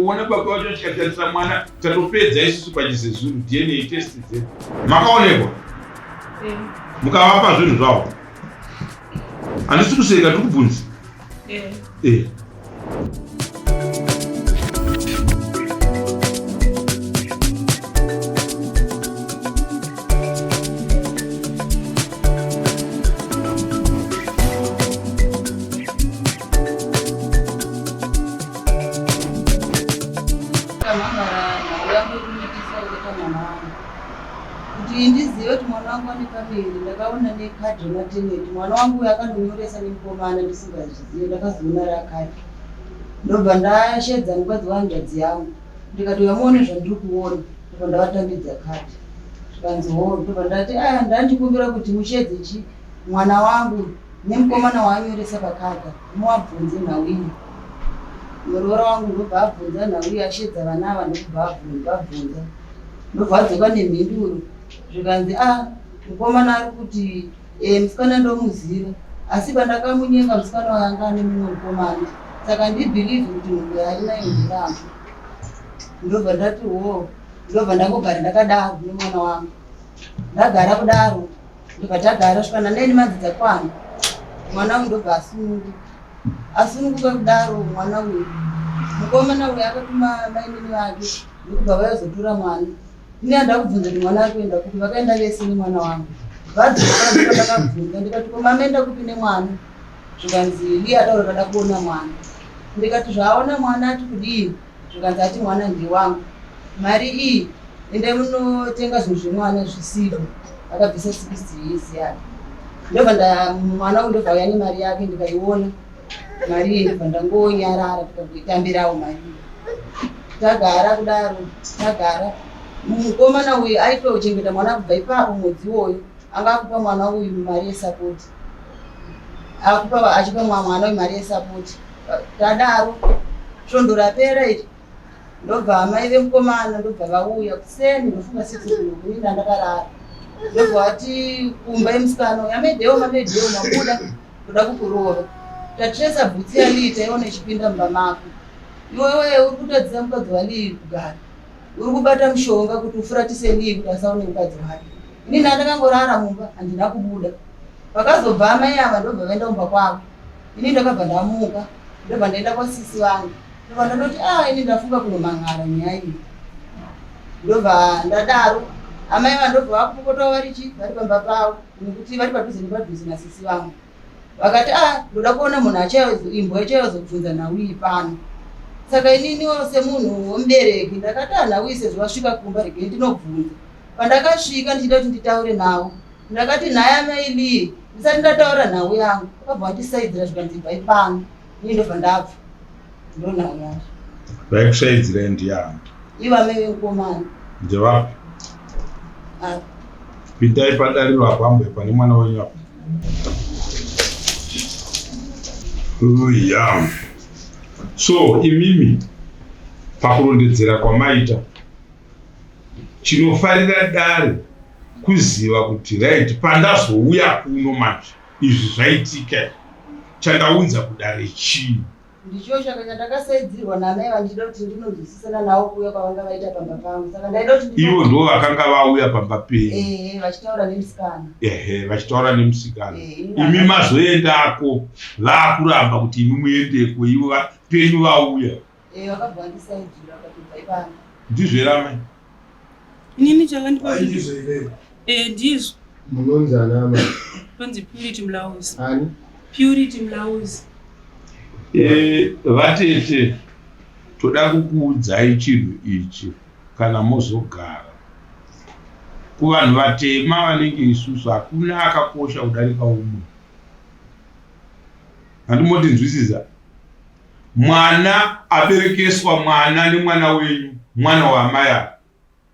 kuona baba vacho tikatarisa mwana tatopedza isusu pachizezuru dna test dzedu makaonekwa eh. mukavapa zvinhu zvavo handisi kuseka tiri kubvunzi eh. eh. kuti ndizive kuti mwana wangu ane pamiri ndakaona nekadhi remateneti mwana wangu uyo akandonyoresa nemukomana ndisingazvizive ndakazoona rakadhi ndobva ndashedza mukadzi wahanzvadzi yangu ndikati uyamuone zvandiri kuona ndobva ndavatambidza kadhi zvikanzi hoo ndobva ndati aya ndandikumbira kuti mushedze chi mwana wangu nemukomana waanyoresa pakadha Muwabvunze nhau iyi. Muroora wangu ndobva abvunza nhau iyi ashedza vana ava ndokubva abvunza abvunza. Ndobva adzoka nemhinduro zvikanzi a ah, mukomana ari kuti eh, musikana ndomuziva asi pandakamunyenga musikana wayanga ane mumwe mukomana saka ndibhilivhi kuti munhu yaari nayo ndiramba ndobva ndati wo ndobva ndangogara ndakadaro nemwana wangu ndagara kudaro ndobva tagara svika naneni madzidza kwana mwana uyu ndobva asununguka asununguka kudaro mwana uyu mukomana uyu akatuma mainini vake ndokubva vayozotura mwana ini anda kubvunza kuti mwana ari kuenda kupi vakaenda vese nemwana wangu vadzokandakabvunza ndikati ko mamenda kupi nemwana zvikanzi liya taura kada kuona mwana ndikati zvaaona mwana ati kudii zvikanzi ati mwana ndewangu mari iyi endai munotenga zvinhu zvemwana zvisizvo akabvisa sikisi yezi yake ndobva mwana uyu ndobva uya nemari yake ndikaiona mari iyi ndobva ndangonyarara tikangoitambirawo mari iyi tagara kudaro tagara mukomana uyu aitochengeta mwana kubva ipapo mwedzi iwoyo anga akupa mwana uyu mari yesapoti akupa achipa mwana uyu mari yesapoti tadaro svondo rapera iri ndobva amai vemukomana ndobva vauya kuseni ndofunga sitikuinda ndakarara ndobva vati kumba yemusikana uyu amedhewo mamedhewo mabuda kuda kukurova tatiresa bhutsi yaliita iona ichipinda mumba mako iwewe uri kutadzisa mukadzi waliyi kugara Uri kubata mushonga kuti ufuratise ndiye kuti asaone mukadzi wake. Ini ndandakangorara mumba handina kubuda. Vakazobva amai ava ndobva vaenda kumba kwavo. Ini ndakabva ndamuka ndobva ndaenda kwasisi vangu. Ndobva ndandoti ah ini ndafunga kunomhan'ara nyaya iyi. Ndobva ndadaro amai vandobva vakupopota vari chi vari pamba pavo nekuti vari padhuze nepadhuze nasisi vangu. vakati a ah, ndoda kuona munhu imbwa ichaiva zobvunza nhauyi pano saka ininiwo semunhu womubereki ndakati a ah, nhauyi sezvo vasvika kumba regei ndinobvunza pandakasvika ndichida kuti nditaure navo ndakati nhaya mailii ndisati ndataura nhau yangu akabva vandisaidzira zvikanzi ibvai pano Ini ndobva ndabva. Ndona unyari. Vaikushaidzira ndiani? Ivo amai vemukomana. Ndevapi? Ah. Pindai padariro apo ambo pane mwana wenyu apo. Oh yeah. So imimi pakurondedzera kwamaita chinofarira dare kuziva kuti right pandazouya kuno manje Izvi zvaitika chandaunza kudare chii? Ndicho chaka chandakasaidzirwa namai vandida kuti ndinonzwisisana navo kuuya kwavanga vaita pamba pangu saka ndaida kuti ivo ndivo vakanga vauya pamba penyu ehe vachitaura nemusikana ehe vachitaura nemusikana Eh, ina- imi mazoendako vakuramba kuti imi muendeko ivo va- penyu vauya Eh, vakagwandisa ijira vakatobva ivana. Ndizvo here amai? Inini chakandipa Ai, kuti ndizvo here? eh ndizvo. Munonzi ana amai. Tonzi Purity Mlauzi. Ani? Purity Mlauzi. Eh, vatete toda kukuudzai chinhu ichi kana mozogara. Kuvanhu vatema vanenge isusu hakuna akakosha kudarika umwe. Handimotinzwisiza? mwana aberekeswa mwana nemwana wenyu mwana waamai ava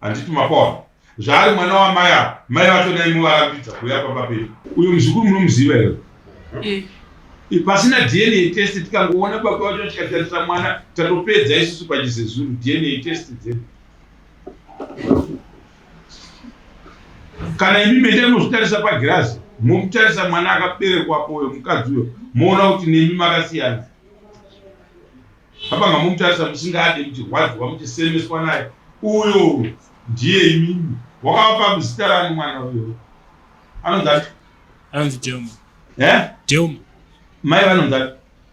handiti mapaona zvaari mwana waamai ava mai vacho nai muvarambidza kuuya pamba pedu uyo muzukuru munomuziva here eh. eh, pasina dna test tikangoona baba vacho tikatarisa mwana tatopedza isusu pachizezuru dna test dzedu kana imi mende mozvitarisa pagirazi momutarisa mwana akaberekwapo uyo mukadzi uyo moona kuti nemi makasiyana apanga momutarisa musingade kuti hwadzwa muchisemeswa naye uyo ndiye imimi wakavapa muzita rani mwana uyo anonzati anonzi delma eh? delma mai vanonzati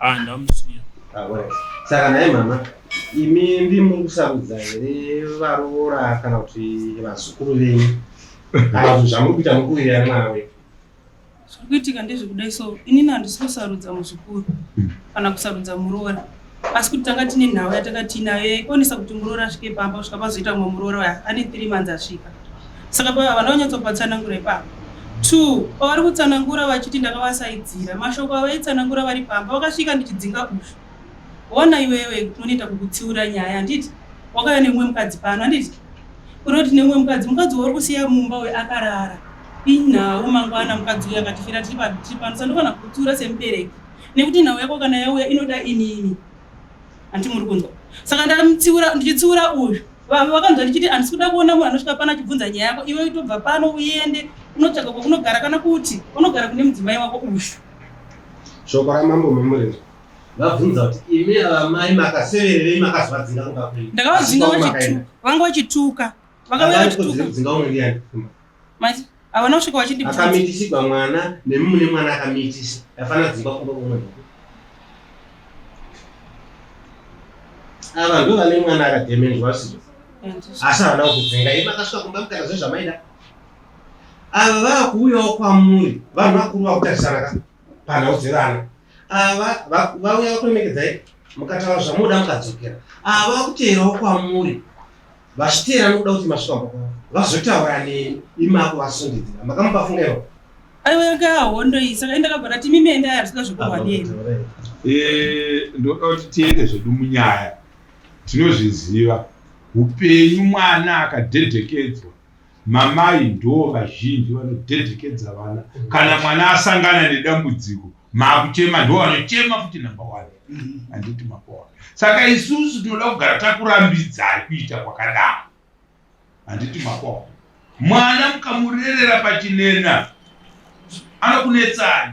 Ah, ndamusiya. Ah, well. Saka naye mama, imi ndimi kusarudza here varoora kana kuti vazukuru venyu? Kana kuti zvamuri kuita mukuvirira mwana wedu? Zviri kuitika ndezvekudai so inini handisi kusarudza muzukuru hmm. kana kusarudza muroora asi kuti tanga tine nhau yatanga tiinayo yaionesa kuti muroora asvike pamba kusvika pazoita mumwe muroora waya ane three months asvika saka pava vana vanyatsopatsanangura ipapa two pavari kutsanangura vachiti ndakavasaidzira mashoko avaitsanangura vari pamba vakasvika ndichidzinga ufu ona iwewe kunonoita kukutsiura nyaya handiti wakauya nemumwe mukadzi pano handiti unoti nemumwe mukadzi mukadzi wauri kusiya mumba uyo akarara inhau mangwana mukadzi uyo akatifira tiri pano sandofana kukutsiura semubereki nekuti nhau yako kana yauya inoda inini Anti muri kunzwa. Saka ndamutsiura ndichitsiura uyu. Vakanzwa ndichiti andisi kuda kuona munhu anosvika pano achibvunza nyaya yako. Iwe itobva pano uende unotsvaga kwakunogara kana kuti unogara kune mudzimai wako uyu. Shoko ramambo memurenzo. Vabvunza kuti imi amai makasevererei makazvadzinga kumba kwenyu. Ndakavadzinga vachituka. Vanga vachituka. Vanga vachituka. Vanga vachituka. Manje havana kusvika vachindi akamitisirwa mwana nemi mune mwana akamitisa afana dzimba kumba kumwe ava ndo vane mwana akademenjwa asizo asi havana kukudzinga imi akasvika kumba mukana zve zvamaida ava vava kuuyawo kwamuri vanhu vakuru vakutarisana ka panhau dzevana ava vauya vakuremekedzai mukataura zvamunoda mukadzokera ava vakuteerawo kwamuri vachiteera nokuda kuti masvikamba kwavo vazotaura neni imako vasundidzira makamupa funga ivo aiweka hondo iyi saka indakabva ndati mimi enda yasvika zvekurwa neni eh, ndoda kuti tiende zvedu munyaya tinozviziva upenyu mwana akadhedhekedzwa Mamai ndoo vazhinji vanodhedhekedza vana kana mwana asangana nedambudziko makuchema ndoo vanochema futi number one handiti makona saka isusu tinoda kugara takurambidzai kuita kwakadaro handiti makona mwana mukamurerera pachinena anokunetsani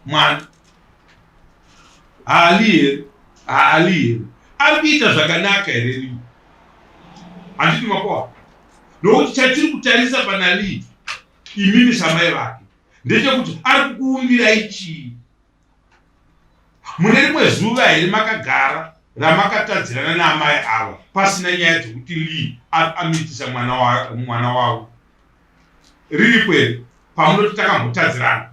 mwana haali here haali here ari kuita zvakanaka here lii handiti makoa nokuti chatiri kutarisa pana lii imimi samai vake ndechekuti ari kukuumbirai chii mune rimwe zuva here makagara ramakatadzirana naamai ava pasina nyaya dzekuti lii amitisa mwana wavo riripo here pamunoti takambotadzirana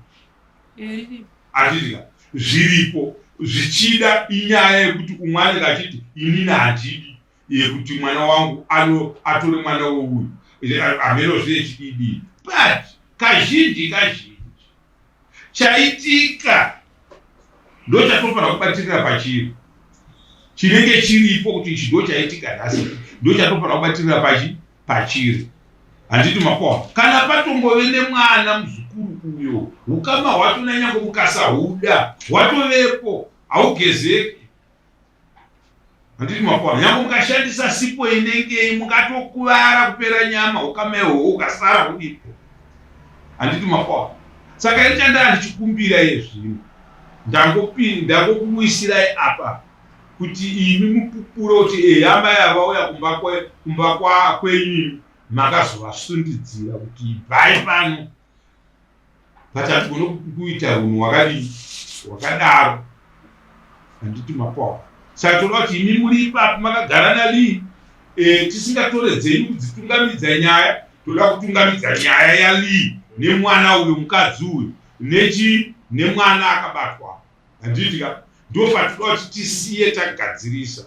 atidika zviripo zvichida inyaya yekuti umwe anenge achiti inini handidi yekuti mwana wangu ano atore mwana wouyu hamenozve yechididi but kazhinji kazhinji chaitika ndo chatofanira kubatirira pachiri chinenge chiripo kuti ichi ndo chaitika nhasi ndo chatofanira kubatirira pachii pachiri handiti makona kana patongove nemwana muzukuru uyo ukama hwacho nanyangwe mukasahuda hwatovepo haugezeki handiti makona nyangwe mukashandisa sipo inengei mukatokuvara kupera nyama ukama ihoho ukasara hudipo handiti makona saka ichandaa ndichikumbira yezvino ndangopinda ndangokuisirai apa kuti imi mupupure kuti ehe amai ava vauya kumba kwenyu makazovasundidzira kuti ibvai pano pachatigona kuita hunhu wakadii wakadaro handiti mapawa saka toda kuti imi muri ipapi makagara nalii e, tisingatore dzenyu kudzitungamidza nyaya toda kutungamidza nyaya yalii nemwana uyo mukadzi uyo nechi nemwana akabatwa Handiti ka ndofatikuda kuti tisiye tagadzirisa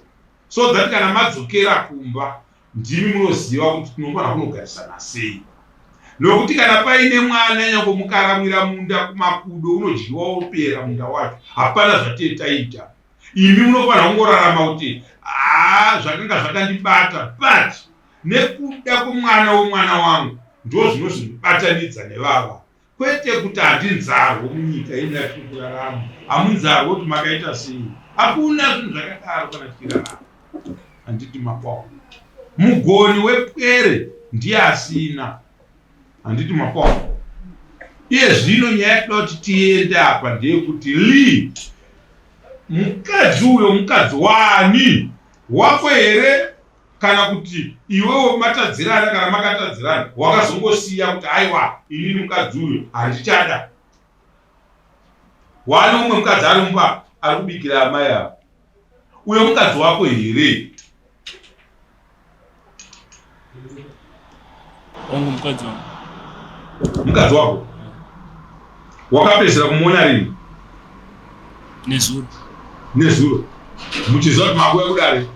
so that kana madzokera kumba ndimi munoziva kuti tinofanira kunogarisana sei nokuti kana paine mwana nyango mukaramwira munda kumakudo unodyiwa wopera munda wacho hapana zvatee taita imi munofanira kungorarama kuti haa zvakanga zvakandibata but nekuda kwemwana wemwana wangu ndo zvinozondibatanidza nevava Kwete kuti hatinzarwo munyika ino yatiri kurarama, hamunzarwo kuti makaita sei. Hakuna zvinhu zvakadaro kana tichirarama. Handiti makwawo mugoni wepwere ndiye asina. Handiti makwawo iye zvino nyaya yatinoda kuti tiende apa ndeyekuti li mukadzi uyo mukadzi wani wako here kana kuti iwewo matadzirana kana makatadzirana wakazongosiya kuti aiwa inini mukadzi uyu handichada waane umwe mukadzi ari mumba ari kubikira amai avo uyo mukadzi wako here wangu mukadzi wangu mukadzi wako wakapedzera kumuona rini nezuro nezuro muchiziva kuti makuya kudare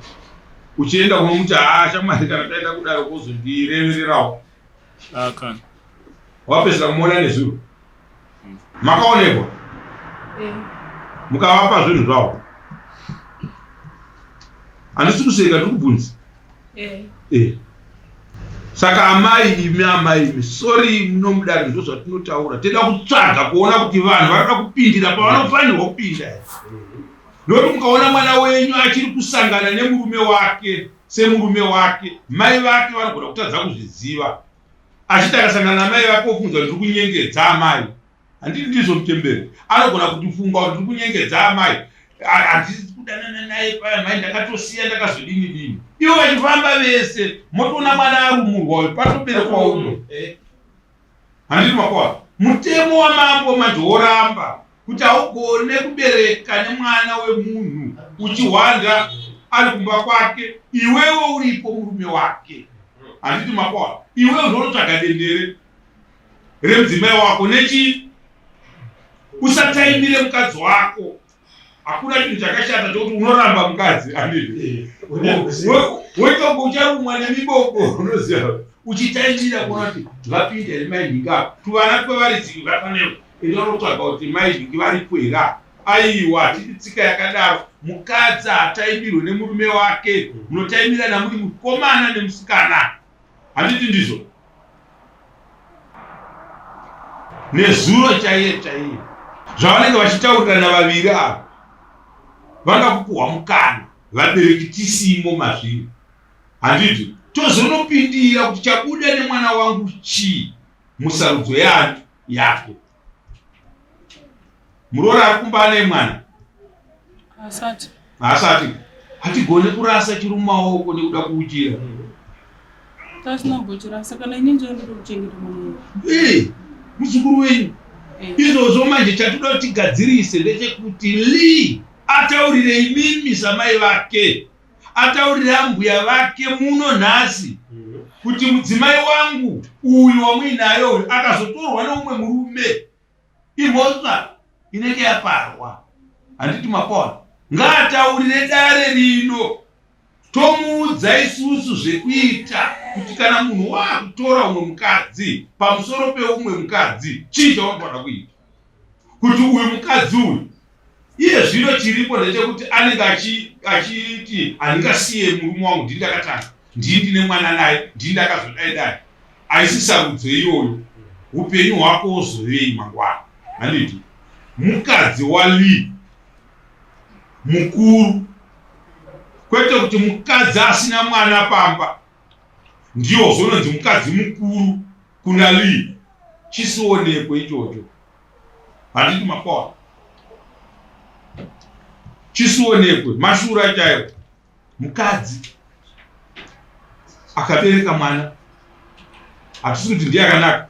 uchienda kunomuti haa shamwari kana taenda kudare kozondirevererawo ah, wapedzera kumuona nezuro makaonekwa eh. mukavapa zvinhu zvavo handisi kuseka ndiri kubvunza eh. eh. saka amai imi amai imi sori munomudari ndo zvatinotaura tinoda kutsvaga kuona kuti vanhu vanoda kupindira pavanofanirwa kupinda nokuti mukaona mwana wenyu achiri kusangana nemurume wake semurume wake mai vake vanogona kutadza kuzviziva achiti akasangana namai vake ofunga kuti tiri kunyengedza amai handiti ndizvo mutemberi anogona kutifunga kuti tiri kunyengedza amai handisi kudanana naye paya mai ndakatosiya ndakazodini dini ivo vachifamba vese motoona mwana arumurwa uyu patoberekwa uno handiti makwa mutemo wamambo manje woramba kuti haugone kubereka nemwana wemunhu uchihwanda ari kumba kwake iwewo uripo murume wake handiti makwana iwewo ndoonotsvaga dendere remudzimai wako nechi usataimire mukadzi wako hakuna chinhu chakashata chokuti unoramba mukadzi andii woitongo ucharumwa nemiboko unoziva uchitaimira kuona kuti vapinde remai ndingaa tuvana twevaridzi vafaneo Inoda kutsvaga kuti mai Vhiki varipo here apa? Aiwa, hatidi tsika yakadaro. Mukadzi haataimirwe nemurume wake, munotaimirana muri mukomana nemusikana. Handiti ndizvo? Nezuro chaiye chaiye zvavanenge vachitaurirana vaviri ava vanga kupuhwa mukana vabereki tisimo mazviri handiti tozonopindira kuti chabuda nemwana wangu chii musarudzo yanyu yako muroora ari kumba ane mwana asati asati hatigone kurasa chiri mumaoko nekuda kuuchira tasina kuchirasa kana ini ndinoda kuchengeta mwana eh, muzukuru wenyu eh. izvozvo manje chatoda tigadzirise ndechekuti lee ataurire imimi samai vake ataurira ambuya vake muno nhasi mhm. kuti mudzimai wangu uyu wamuinayo uyu akazotorwa neumwe murume imhosva inenge yaparwa handiti mapona ngaataurire dare rino tomuudza isusu zvekuita kuti kana munhu waakutora umwe mukadzi pamusoro peumwe mukadzi chii chaunogona kuita kuti uyu mukadzi uyu iye zvino chiripo ndechekuti anenge achiti handingasiye murume wangu ndii ndakatanga ndii ndine mwana naye ndii ndakazodai dai aisi sarudzo iyoyo upenyu hwako wozovei mangwana handiti mukadzi walii mukuru kwete kuti mukadzi asina mwana pamba ndiwo zononzi mukadzi mukuru kuna Lee chisionekwe ichocho handiti makwawa chisionekwe mashura chaiwo mukadzi akabereka mwana hatisi kuti ndiye akanaka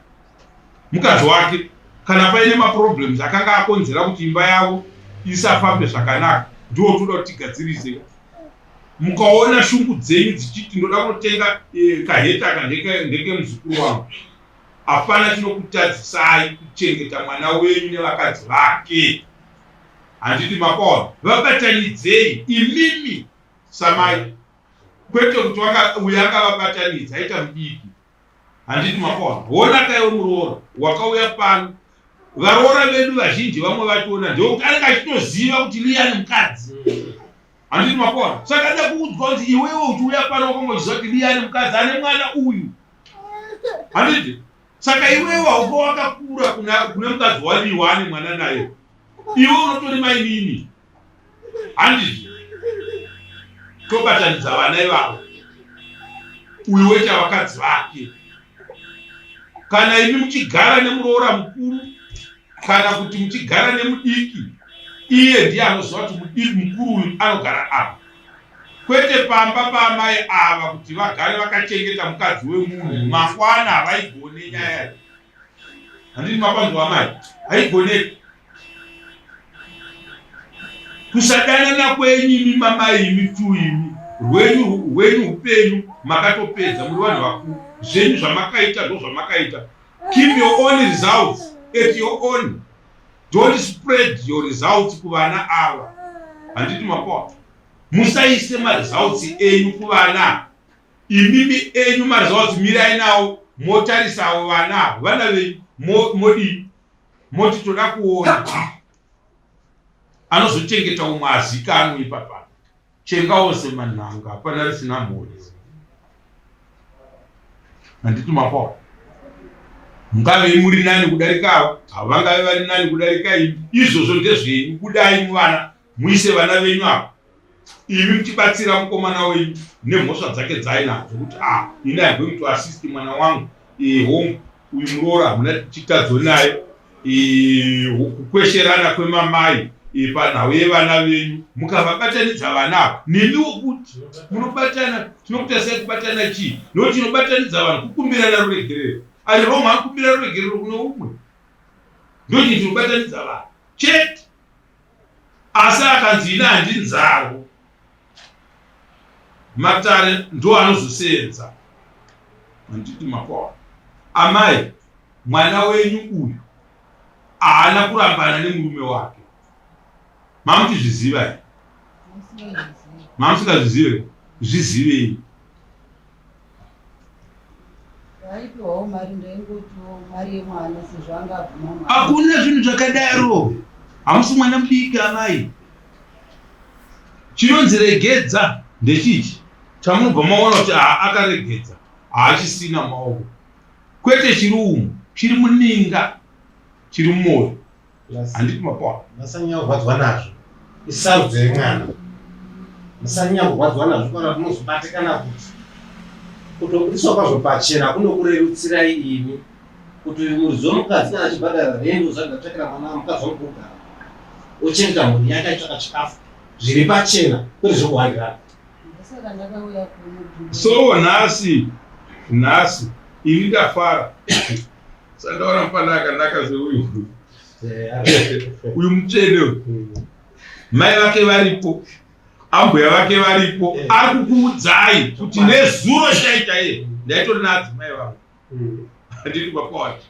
mukadzi wake kana paine maproblems akanga akonzera kuti imba yavo isafambe zvakanaka ndiwo toda kuti tigadzirise mukaona shungu dzenyu dzichiti ndoda kunotenga eh, kaheta aka ndekemuzukuru wangu hapana chinokutadzisai kuchengeta mwana wenyu nevakadzi vake handiti makona vabatanidzei imimi samai kwete kuti uyo akavabatanidza aita mudiki handiti makaona hona kaiwe muroora wakauya pano varoora vedu vazhinji vamwe vationa ndeuti anenge achitoziva kuti liyani mukadzi handiti makaona saka ada kuudzwa kuti iwewe uchiuya pano wakanga uchiziva kuti liyani mukadzi ane mwana uyu handiti saka iwewe hauka wakakura kune mukadzi waliwa ane mwana naye iwe unotori mainini handizvo tobatanidza vana ivavo uyu wete vakadzi vake kana imi muchigara nemuroora mukuru kana kuti muchigara nemudiki iye ndiye anoziva kuti mudiki mukuru uyu anogara apa kwete pamba paamai ava kuti vagare vakachengeta mukadzi wemunhu makwana havaigone nyaya handiti mapanzwa amai haigoneki kusadanana kwenyu imi mamai imi tu imi rwenyu rwenyu upenyu makatopedza muri vanhu vakuru zvenyu zvamakaita zvo zvamakaita keep your own results at your own don't spread your results kuvana ava handiti mapoa musaise maresults enyu kuvana Imimi enyu maresults mirai nawo motarisawo vana avo vana venyu modii moti toda kuona anozochengeta umwe azikanwe ipapa chengawo semanhanga hapana risina mhuri handiti mapawa mungave muri nani kudarika avo avo vangave vari nani kudarika imi izvozvo ndezvenyu budai muvana Muise vana venyu apa imi muchibatsira mukomana wenyu nemhosva dzake dzaainadzo kuti a ah, ini am going to assist mwana wangu home uyu muroora hamuna chitadzo naye kukwesherana kwemamai panhau yevana venyu mukavabatanidza vana ava nemiwo kuti munobatana tinokutasai kubatana chii nokuti tinobatanidza vanhu kukumbirana ruregerero ari roma akumbira ruregerero kune umwe ndochii tinobatanidza vanhu chete Asi akanzi ini handinzarwo matare ndo anozoseenza handiti makaona amai mwana wenyu uyu haana kurambana nemurume wake mamutizviziva mamusingazvizive zvizivei hakuna zvinhu zvakadaro hamusi mwana mudiki amai chinonzi regedza ndechichi chamunobva maona kuti haa akaregedza haachisina maoko kwete chiri umu chiri muninga chiri mumoyo handipi mapona masanyanya kurwadziwa nazvo isarudzo yemwana masanyanya kurwadziwa nazvo kana tinozobatikana kuti kutobudiswa kwazvo pachena kunokurerutsirai imi kuti muridzo mukadzi kana achibhadhara rendo zvagatsvakira mwana mukadzi wamukugara ochengeta mhuri yake aitsvaka chikafu zviri pachena kwete zvekuhandirana so nhasi nhasi ini ndafara Sandaona mfana akanaka seuyu uyu mutsvene uyu hmm. mai vake varipo ambuya vake varipo eh. ari kukuudzai kuti nezuro chaita iye ndaitori naadzimai vangu hmm. handiri kwakwawati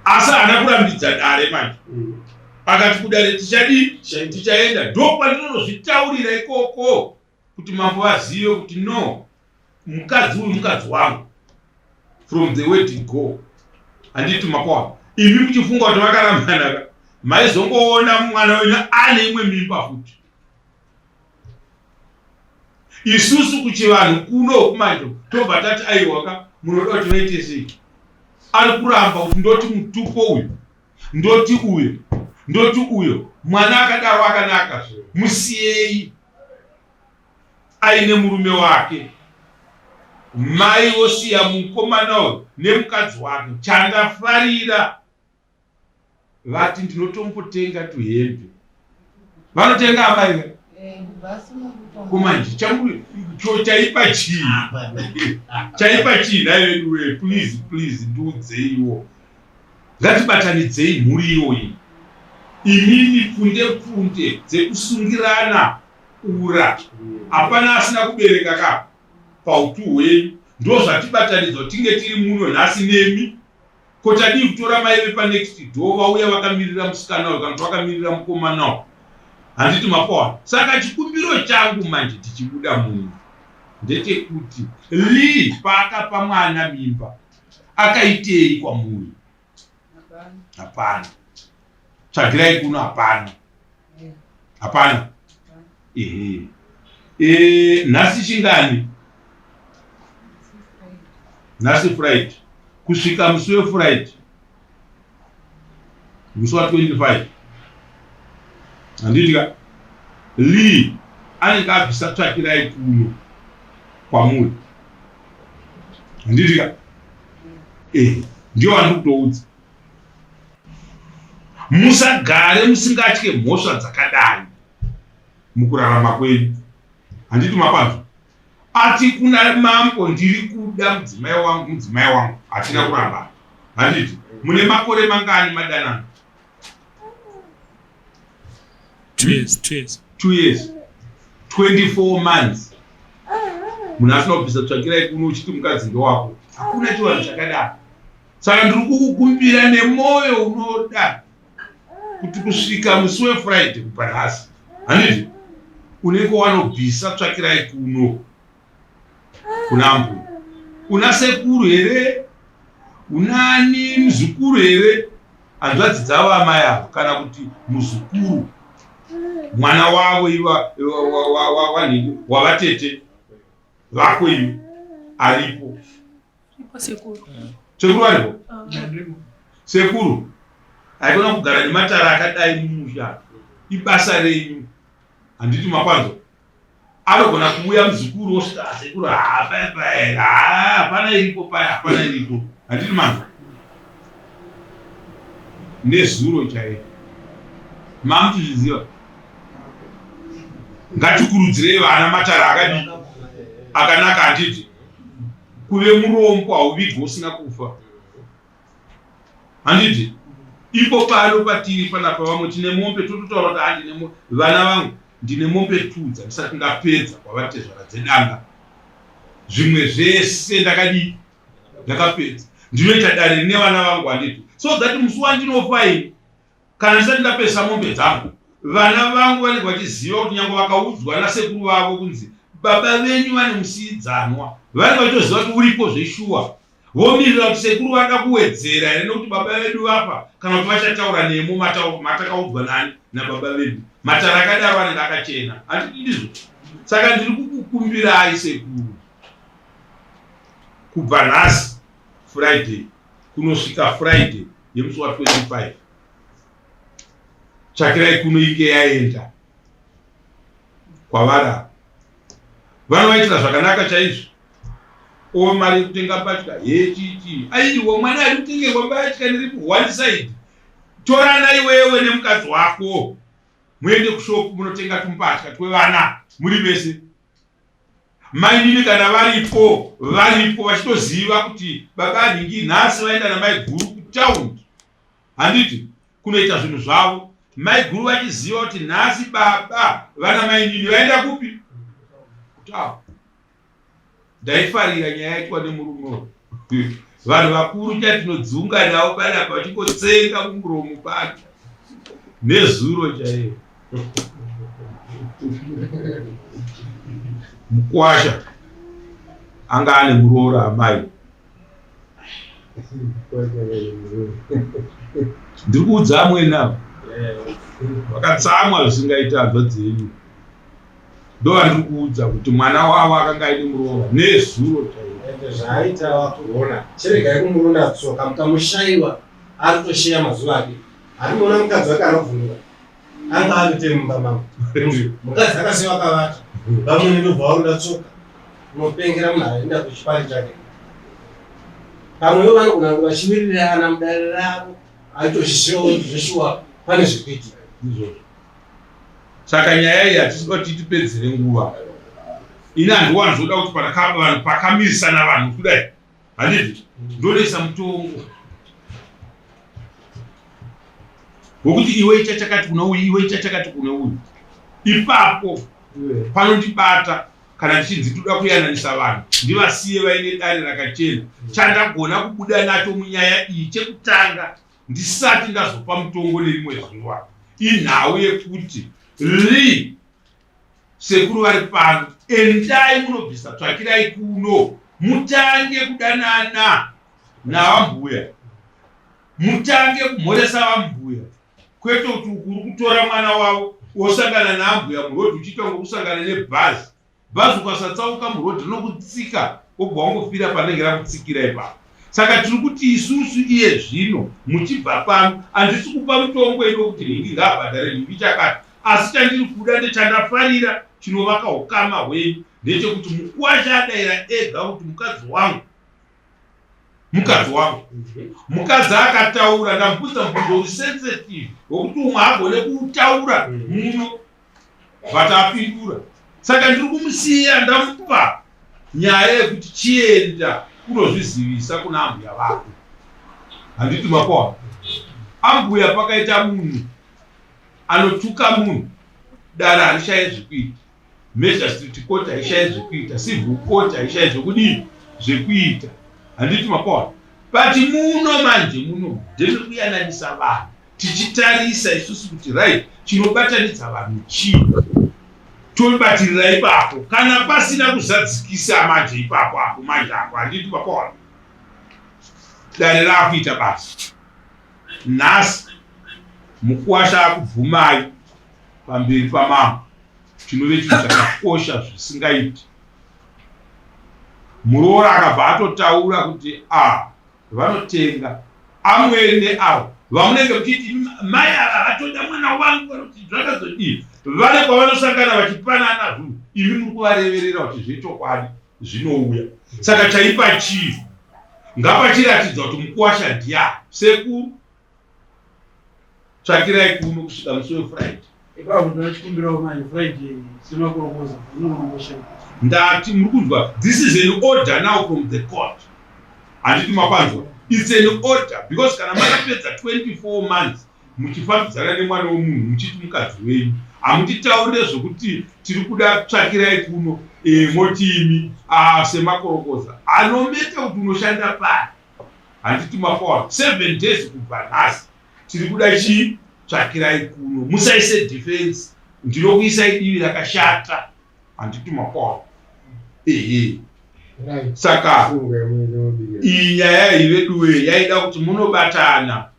asi haana kurambidza dare manje hmm. akati kudare tichadii tichaenda ndo kwatinonozvitaurira ikoko kuti mambo vazive kuti no mukadzi uyu mukadzi wangu from the way to go handiti makwana imi muchifunga kuti makarambanaka maizongoona mwana wenyu ane imwe mimba futi isusu kuchivanhu kuno kumanje tobva tati aiwaka munoda kuti vaite sei ari kuramba kuti ndoti mutupo uyu ndoti uyo ndoti uyo mwana akadaro akanaka musiyei aine murume wake mai vosiya mukomana uyu nemukadzi wake chandafarira vati ndinotombotenga tuhembe vanotenga amai eh, kumanje changu cho chaipa chii chaipa chii naiveduwe please please ndiudzeiwo Ngatibatanidzei mhuri iyoyi imimi pfunde pfunde dzekusungirana ura hapana asina kubereka ka pautu hwenyu ndozvatibatanidzwa tinge tiri muno nhasi nemi ko tadii kutora mai vepanext door vauya vakamirira musikana uyu kana kuti vakamirira mukomana uyu handiti mapoa saka chikumbiro changu manje tichibuda muno ndechekuti lee paakapa mwana mimba akaitei kwamuri hapana tsvagirai kuno hapana hapana ehe e, nhasi chingani nhasi friday kusvika musi wefriday musi wa 25 handiti ka Lee anenge abvisa tsvakirai kuno kwamuri handiti ka eh ndio wandiri kutoudza musagare musingatye mhosva dzakadai mukurarama kwenyu handiti mapanzwa Ati kuna mambo ndiri kuda mudzimai wangu mudzimai wangu hatina kuramba handiti mune makore mangani madanana two years two years two years 24 months munhu asina kubvisa tsvakirai kuno uchiti mukadzi ndewako hakuna chivanhu chakadaro saka ndiri kukukumbira nemwoyo unoda kuti kusvika musi wefriday kubva nhasi hanizvo unenge wanobvisa tsvakirai kuno kuna mbuya una sekuru here unani muzukuru here hanzvadzi dzavo amai avo kana kuti muzukuru mwana wavo iva wavatete vako ivo aripo Sekuru variko. Sekuru haikona kugara nematara akadai mumusha. Ibasa renyu. Handiti makwanzo. Anogona kuuya muzukuru osvika ah, sekuru hapana ah, ah, iripo paya hapana iripo. Handiti manzwa. Nezuro chaiyo. Mamtizviziva. Ngatikurudzirei vana matara akadii akanaka handiti. kuve murombo hauvigwe usina kufa handiti ipo pano patiri panapa vamwe tine mombe tototaura kuti handine ah, vana vangu ndine mombe two dzandisati ndapedza kwavatezvara dzedanga zvimwe zvese ndakadii ndakapedza ndinoita dare rine vana vangu handiti so that musi wandinofa ini Kana ndisati ndapedzisa mombe dzangu, vana vangu vanenge vachiziva kuti nyange vakaudzwa nasekuru vavo kunzi baba venyu vane musiidzanwa, vanenge vachitoziva kuti uripo zveshuwa. Vomirira kuti sekuru vari kuda kuwedzera here nekuti baba vedu vafa kana kuti vachataura nemo matauro matakaudzwa nani nababa vedu. Matare akadaro anenge akachena, handiti ndizvo? Saka ndiri kukukumbirai sekuru, kubva nhasi Friday kunosvika Friday, nemusi wa 25 tsvakirai kuno inge yaenda kwavara vanovaitira zvakanaka chaizvo o mari yekutenga mbatya hechiti aiwa mwana ari kutengerwa mbatya ndiri ku one side torana iwewe nemukadzi wako muende kushopu munotenga tumbatya twevana muri vese Mainini kana varipo varipo vachitoziva kuti baba anhingi nhasi vaenda namaiguru kutaundi handiti kunoita zvinhu zvavo maiguru vachiziva kuti nhasi baba vana mainini vaenda kupi kutaundi ndaifarira nyaya yaitwa nemurume Vanhu vakuru chatinodziunga navo paya pachingotsenga kumuromo pano nezuro chaiyo mukwasha anga ane muroora amai ndiri kuudza amweni avo vakatsamwa zvisingaita hanzva dzenyu ndovandikuudza kuti mwana wavo akanga aine muroora nezuro chaio zvaaita wakuona chiregai kumurunda tsoka mukamushaiwa ari kutosheya mazuva ake arikuona mukadzi wake anovhunura anga avite mumba mavo mukadzi akasiya wakavata vamwene ndobva warunda tsoka unopengera munhu aenda kuchipari chake pamwewo vanogona kuti vachimirira ana mudare ravo aitozvishewo zveshuwa pane zvekuitika izvozvo saka nyaya iyi hatisi kuti tipedzere nguva ini handiwani zvoda kuti vanhu pakamirisana vanhu kudai handizvo ndonoisa mutongo wokuti iwe icha chakati kuna uyu iwe icha chakati kuna uyu ipapo panondibata kana tichinzi toda kuyananisa vanhu ndivasiye vaine dare rakachena chandagona kubuda nacho munyaya iyi chekutanga ndisati ndazopa mutongo nerimwe zuva inhau yekuti ri sekuru vari pano endai munobvisa tsvakirai kuno mutange kudanana navambuya mutange kumhoresa vambuya kwete kuti ukuri kutora mwana wavo wosangana naambuya murodhi uchiita ngokusangana nebhazi Bhazi ukasatsauka muroad rinokutsika wobva wangofira panenge rakutsikira ipapo. Saka tiri kuti isusu iye zvino muchibva pano handisi kupa mutongo ido kuti nhingi ngaabhadhare nhingi chakati asi chandiri kuda ndechandafarira chinovaka ukama hwenyu ndechekuti mukuwasha adaira ega kuti mukadzi wangu mukadzi wangu mukadzi akataura ndamubvunza mubvunzo uri sensitive wekuti umwe agone kutaura muno but apindura saka ndiri kumusiya ndamupa nyaya yekuti chienda kunozvizivisa kuna ambuya vako handiti makona ambuya pakaita munhu anotuka munhu dare harishaye zvekuita magistrate court haishaye zvekuita civil court haishaye zvekudii zvekuita handiti makona but muno manje muno ndiri kuyananisa vanhu tichitarisa isusu kuti right chinobatanidza vanhu chii tobatirira ipapo kana pasina kuzadzikisa manje ipapo apo manje apo handiti papawana dare raakuita basa nhasi mukuwasha akubvumai pamberi pamambo chinove chinhu chakakosha zvisingaiti muroora akabva atotaura kuti a ah, Vanotenga amwene neavo vamunenge muchiti mai ava vatoda mwana wangu vanoti zvakazodii vane kwavanosangana vachipanana zvinhu imi muri kuvareverera kuti zvechokwadi zvinouya saka chaipa chii ngapachiratidzwa kuti mukuwasha ndiya sekuru tsvakirai kuno kusvika musi wefriday ipapo ndoda chikumbirawo manje friday semakorokoza unonombosha ndati muri kunzwa this is an order now from the court handiti makwanzwa its an order because kana makapedza 24 months muchifambidzana nemwana wemunhu muchiti mukadzi wenyu hamutitaurire zvokuti tiri kuda tsvakirai kuno e, moti imi ah, semakorokoza anometa kuti unoshanda pari handiti mafoa 7 days kubva nhasi tiri kuda chii tsvakirai kuno musaise defense ndinokuisai divi rakashata handiti mafoa ehe saka iyi nyaya iyi veduwe yaida kuti munobatana